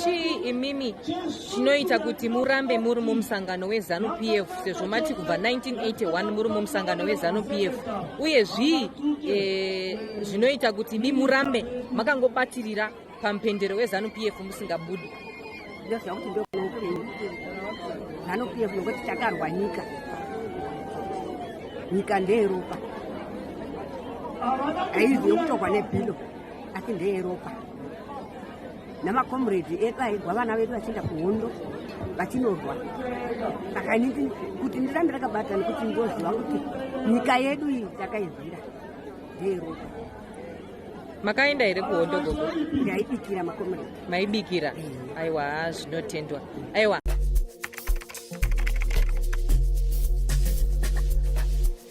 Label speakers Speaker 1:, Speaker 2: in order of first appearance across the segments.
Speaker 1: chii imimi chinoita kuti murambe muri mumusangano wezanu p f sezvo mati kubva 1981 muri mumusangano wezanu p f uye zvii e, zvinoita kuti mi murambe makangobatirira pamupendero wezanu p f musingabudi ndozvakuti
Speaker 2: ndokuupenyu zanu p f nokuti takarwa nyika nyika ndeyeropa aizi yokutorwa nebhilo asi ndeyeropa namakomredi edu airwa vana vedu vachienda kuhondo vachinorwa saka inini kuti ndirambe rakabata nekuti ndoziva kuti nyika yedu iyi takairwira ndeyeropa
Speaker 1: makaenda here kuhondo gogo ndaibikira makomredi
Speaker 2: maibikira
Speaker 1: aiwa zvinotendwa aiwa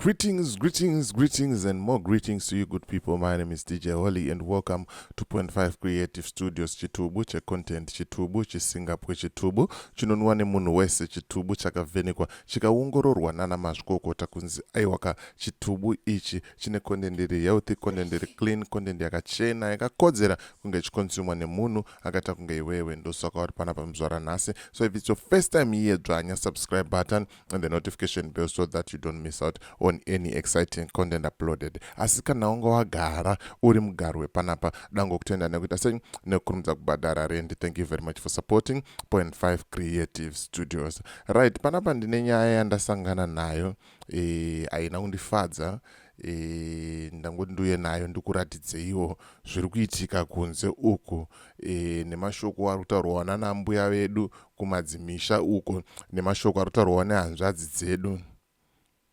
Speaker 3: Greetings, greetings, greetings, and more greetings to you good people. My name is DJ Holly and welcome to Point 5 Creative Studios Chitubu, che content Chitubu, che Singapore Chitubu, chinonwa ne munhu wese Chitubu chakavhenekwa, chikaongororwa nana mazvikokota kunzi aiwaka Chitubu ichi chine content iri healthy, content iri clean, content yakachena, yakakodzera kunge ichikonsumwa nemunhu akaita kunge iwewe. Ndosaka uri panapa muzvara nhasi. So if it's your first time here, dzvanya subscribe button, and the notification bell so that you don't miss out on any exciting content uploaded asi kana wanga wagara uri mugaro wepanapa dango kutenda nekuita sei nekukurumidza kubhadhara rendi thank you very much for supporting point 5 creative studios right panapa ndine nyaya yandasangana nayo eh, haina e, kundifadza e, eh, ndangoti ndiuye nayo ndikuratidzeiwo zviri kuitika kunze uku e, nemashoko ari kutaurwa wana nambuya vedu kumadzimisha uko nemashoko arutaurwa nehanzvadzi dzedu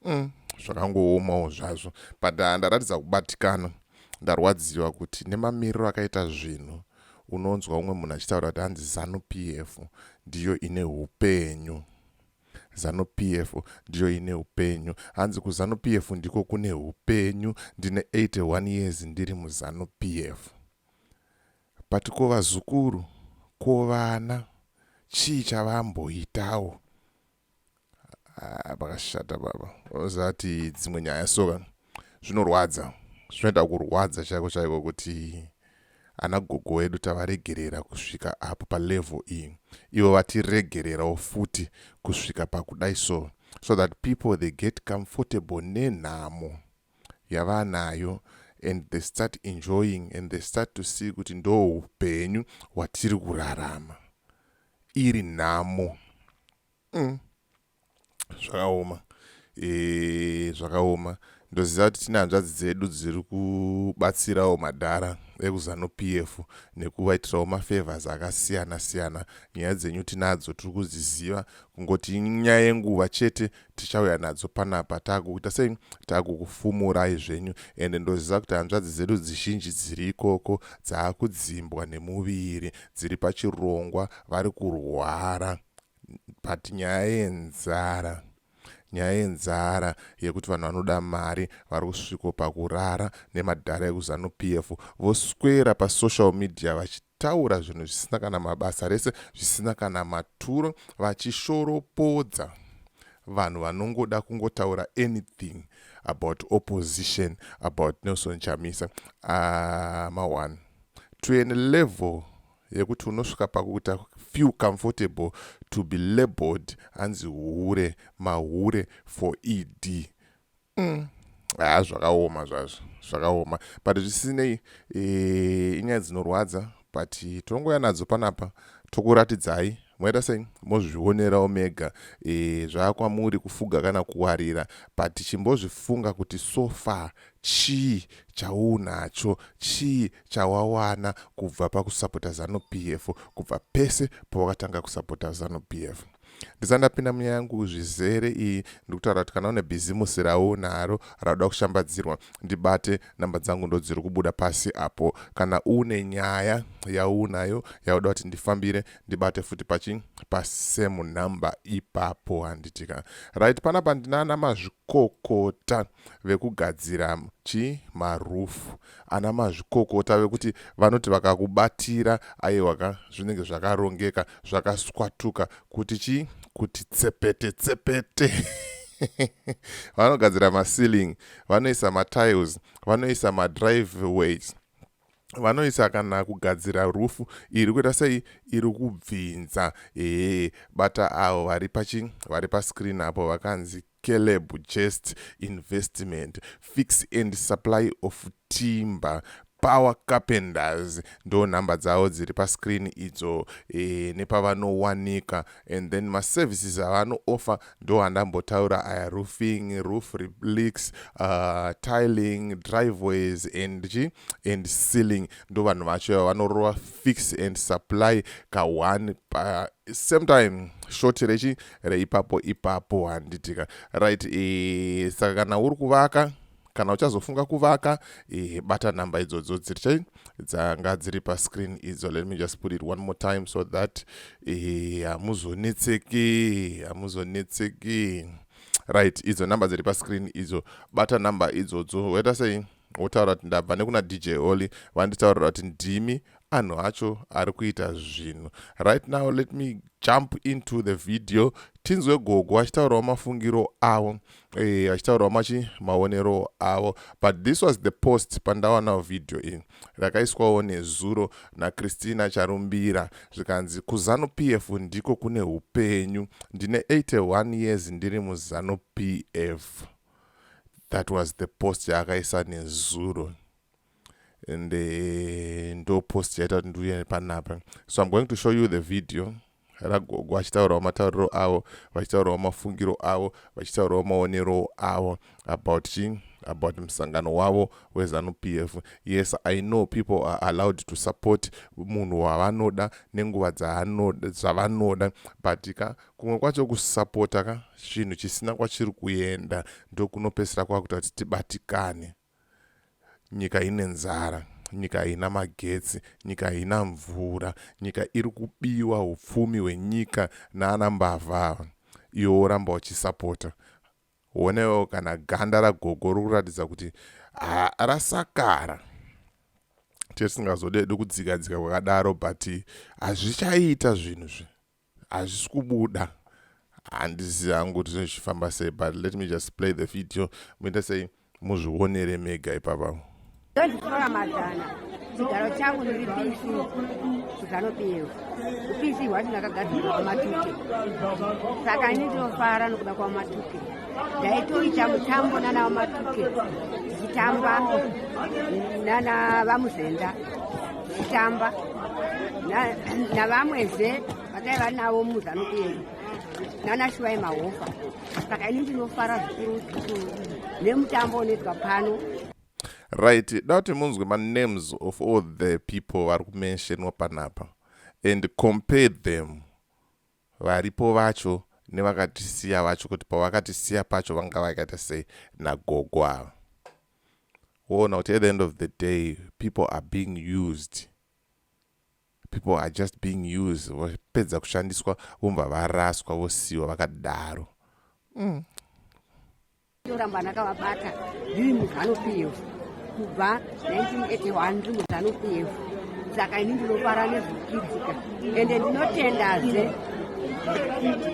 Speaker 3: mm, zvakangoomawo zvazvo but ah, ndaratidza kubatikana ndarwadziwa kuti nemamiriro akaita zvinhu unonzwa umwe munhu achitaura kuti hanzi zanu p f ndiyo ine upenyu zanu p f ndiyo ine upenyu hanzi kuzanu p f ndiko kune upenyu ndine 81 years ndiri muzanu p f But ko vazukuru ko vana chii chavamboitawo haa pakashata baba ozati dzimwe nyaya so ka zvinorwadza zvinoita kurwadza chaiko chaiko kuti ana gogo wedu tavaregerera kusvika apo palevel iyi ivo vatiregererawo futi kusvika pakudai so so that people they get comfortable nenhamo yavanayo and they start enjoying and they start to see kuti ndo hupenyu hwatiri kurarama iri nhamo mm. zvakaoma e, zvakaoma ndoziva kuti tine hanzvadzi dzedu dziri kubatsirawo madhara ekuzanu p f nekuvaitirawo mafavors akasiyana siyana nyaya dzenyu tinadzo tiri kudziziva kungoti nyaya yenguva chete tichauya nadzo panapa taakuita sei taakukufumurai zvenyu and ndoziva kuti hanzvadzi dzedu dzizhinji dziri ikoko dzaakudzimbwa nemuviri dziri pachirongwa vari kurwara but nyaya yenzara nyaya yenzara yekuti vanhu vanoda mari vari kusviko pakurara nemadhara ekuzanu p f voswera pasocial media vachit kutaura zvinhu zvisina kana mabasa rese zvisina kana maturo vachishoropodza vanhu vanongoda kungotaura anything about opposition about nelson chamisa ah, ma one to an level yekuti unosvika pakuita feel comfortable to be labeled hanzi hure mahure for ed mm. haa zvakaoma zvazvo zvakaoma but zvisinei eh, inyaya dzinorwadza but tinongouya nadzo panapa tokuratidzai moita sei mozvionerawo mega e, zvaakwamuri kufuga kana kuwarira but chimbozvifunga kuti so far chii chaunacho chii chawawana kubva pakusapota zanu p f kubva pese pawakatanga kusapota zanu p f Ndisati ndapinda munyaya yangu zvizere iyi, ndiri kutaura kuti kana une bhizimusi raunaro rauda kushambadzirwa, ndibate, nhamba dzangu ndodziri kubuda pasi apo. Kana une nyaya yaunayo yauda kuti ndifambire, ndibate futi pachi pasame number ipapo handitika. Right, panapa ndinana mazvikokota. vekugadzira chi maroof ana mazvikokota vekuti vanoti vakakubatira aiwa ka zvinenge zvakarongeka zvakaswatuka kuti chi kuti tsepete tsepete vanogadzira maceiling vanoisa matiles vanoisa madriveways vanoisa kana kugadzira rufu iri kuita sei iri kubvinza ee bata avo vari pachi vari pascreen apo vakanzi Caleb Chest Investment, Fix and Supply of Timber, Power Carpenters ndo nhamba dzavo dziri pascreen idzo e, nepavanowanika and then maservices avanooffer ndo andambotaura aya roofing, roof replix, uh, tiling, driveways and chi and sealing ndo vanhu vacho ava vanorova fix and supply ka one pa same time short rechi reipapo ipapo handitika right e, saka kana uri kuvaka kana uchazofunga kuvaka e, bata nhamba idzodzo dziri chai dzanga dziri pascreen idzo let me just put it one more time so that e, hamuzonetseki hamuzonetseki right idzo nhamba dziri pascreen idzo bata nhamba idzodzo waita sei wotaura kuti ndabva nekuna dj oli vanditaurira kuti ndimi anhu acho ari kuita zvinhu right now let me jump into the video tinzwe gogo achitaurawo mafungiro avo e, achitaurawo machi maonero avo but this was the post pandawanawo video iyi rakaiswawo nezuro nachristina charumbira zvikanzi kuzanu p f ndiko kune upenyu ndine 81 years ndiri muzanu p f that was the post yaakaisa nezuro and eh, ndo post yaita kuti ndiuye panapa so im going to show you the video ragogo vachitaurawo matauriro avo vachitaurawo mafungiro avo vachitaurawo maonerowo avo about chii about musangano wavo wezanu p f yes i know people are allowed to support munhu wavanoda nenguva zvavanoda but ka kumwe kwacho kusapota ka chinhu chisina kwachiri kuenda ndokunopesera kwakuita kuti tibatikane nyika ine nzara nyika haina magetsi nyika haina mvura nyika iri kubiwa upfumi hwenyika naana mbavha ava iwe woramba uchisapota wonewo kana ganda ragogo ri kuratidza kuti rasakara tiye tisingazodedi kudzikadzika kwakadaro but hazvichaita zvinhu zvi hazvisi kubuda handizivi hangu kuti zvinhu zvichifamba sei but let me just play the video muita sei muzvionere mega ipapa ndozvitora
Speaker 2: mazana chigaro changu ndiri pc chikanopiyeo upc hwacho ndakagadzirwa kwamatute saka ini ndinofara nokuda kwamatuke ndaitoita mutambo nana vamatuke tichitamba nana vamuzenda tichitamba navamwezve vadai vari navo muzanu kuenda nana shuvai mahofa saka ini ndinofara zvikuru zvikuru nemutambo unoitwa pano right
Speaker 3: da kuti munzwe manemes of all the people vari kumensionwa panapa and compare them Varipo vacho nevakatisiya vacho kuti pavakatisiya pacho vanga vakaita sei nagogo ava. Woona kuti at the end of the day people are being used. People are just being used vopedza kushandiswa vomva varaswa vosiiwa vakadaro. Mm.
Speaker 2: Toramba ndakavabata ndiri muzanu PF kubva 1981 ndiri muzanu PF saka ini ndinofara nezvekuitika ende ndinotendazve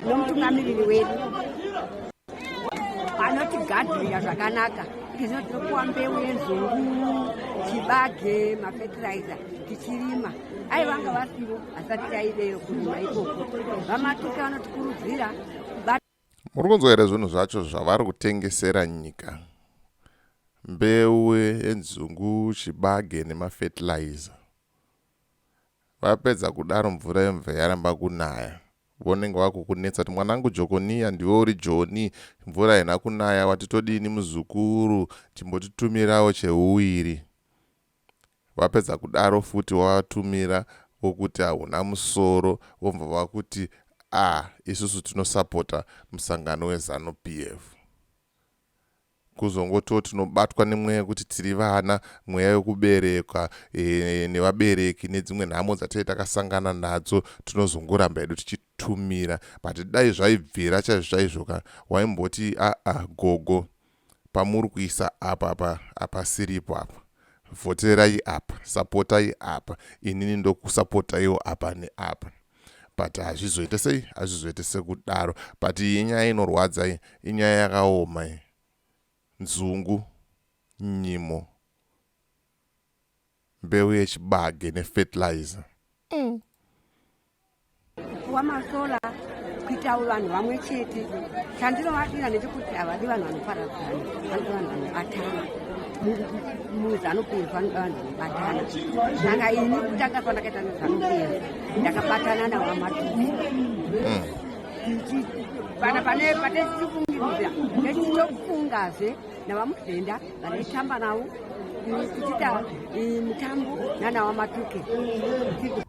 Speaker 2: nomutungamiriri wedu anotigadhira zvakanaka izvo tinopuwa mbeu yenzungu chibage mafetiraiza tichirima ai vanga vasivo hasati taideyo kurima ikoko vamatuka vanotikurudzira
Speaker 3: Muri kunzwa here zvinhu zvacho zvavari kutengesera nyika? Mbeu yenzungu, chibage nemafertilizer. Vapedza kudaro mvura yemve yaramba kunaya. Vonenge vakukunetsa kuti mwanangu Jokoniya ndiwe uri Joni, mvura haina kunaya wati todini muzukuru, chimbotitumirawo cheuwiri. vapedza kudaro futi wavatumira wokuti hauna musoro vobva vakuti ah isusu tinosapota musangano wezanu PF kuzongototi tinobatwa nemweya yekuti tiri vana mweya yokuberekwa e, nevabereki nedzimwe nhamo dzatee takasangana nadzo tinozongoramba hedu tichitumira but dai zvaibvira chaizvo chaizvo ka waimboti aa gogo pamuri kuisa apa apa apasiripo apa vhoterai apa sapotai apa inini ndokusapotaiwo apa neapa but hazvizoite sei hazvizoite sekudaro but iyi nyaya inorwadza iyi inyaya yakaoma iyi nzungu nyimo mbeu yechibage nefertilizer mm.
Speaker 2: wamasola kuitawo vanhu vamwe chete chandinovadira ndechekuti havadi vanhu vanoparadzana vanoda vanhu vanobatana muzi anopedza anoda vanhu vanobatana saka ini kutanga kwandakaita muzi anopedza ndakabatana nawamatuzi mm. tichi pana pane pane tichifungiririra nechitokufungazve navamukudenda vanoitamba navo kuchita mitambo nana wamatuke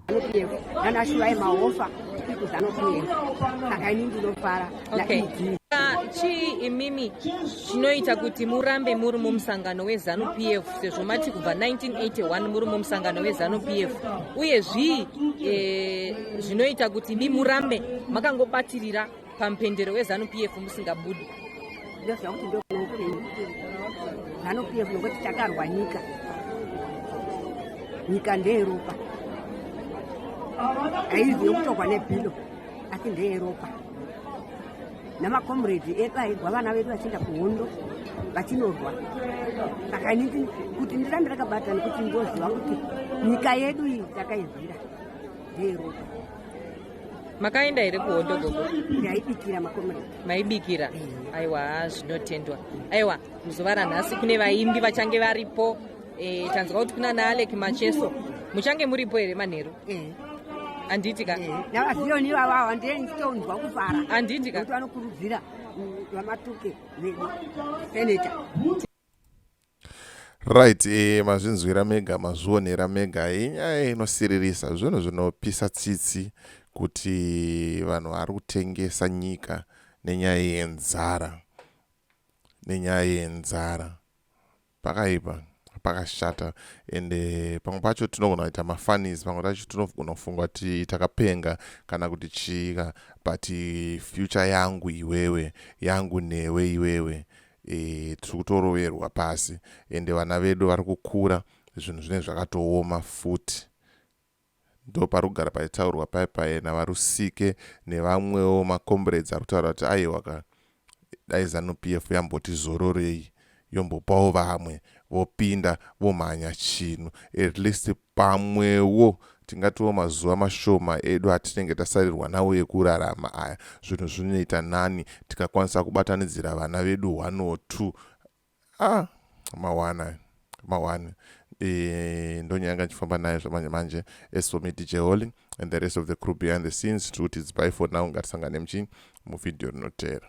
Speaker 2: anopiyevo nana shuvai mahofa ikuti anopiyevo saka ini ndinofara naidi chii
Speaker 1: imimi chinoita kuti murambe muri mumusangano wezanu p f sezvo mati kubva 1981 muri mumusangano wezanu p f uye zvii eh, zvinoita kuti mi murambe makangobatirira pamupendero wezanu pf musingabudi ndoziva kuti
Speaker 2: ndokuupenyu zanu pf nokuti takarwa nyika nyika ndeyeropa aizi yokutorwa nebhilo asi ndeyeropa namakomredi edu airwa vana vedu vachienda kuhondo vachinorwa saka inini kuti ndirambe rakabata nekuti ndoziva kuti nyika yedu iyi takairwira ndeyeropa
Speaker 1: makaenda here kuhondo gogo ndaibikira makomrade
Speaker 2: maibikira
Speaker 1: eh. aiwa zvinotendwa aiwa muzuva ranhasi kune vaimbi vachange varipo e, tanzwa kuti kuna naalek macheso muchange muripo here manheru eh. handiti ka navaziyoni ivavo ava
Speaker 2: ndiye nditonzwa kufara handiti ka vanokurudzira vamatuke vedu seneta
Speaker 3: right e eh, mazvinzwira mega mazvionera mega inyaya eh, inosiririsa zvinhu zvinopisa tsitsi kuti vanhu vari kutengesa nyika nenyaya yenzara nenyaya yenzara pakaipa pakashata ende eh, pamwe pacho tinogona kuita mafanis pamwe tacho tinogona kufunga kuti takapenga kana kuti chiika but future yangu iwewe yangu newe iwewe e, tiri kutoroverwa pasi ende vana vedu vari kukura zvinhu zvinenge zvakatooma futi ndo pari kugara paitaurwa paye paye navarusike nevamwewo macombrades ari kutaura kuti aiwa ka dai zanup f yamboti zororei yombopawo vamwe vopinda vomhanya chinhu at least Pamwewo tingatiwo mazuva mashoma edu atinenge tasarirwa nawo ekurarama aya, zvinhu zvinoita nani tikakwanisa kubatanidzira vana vedu one or two. Ah, mawana mawani e, ndonyanga ndichifamba naye zvamanje manje as for me dj holy and the rest of the crew behind the scenes tiri kuti it's by for now ngatisangane muchii muvhidhiyo rinoteera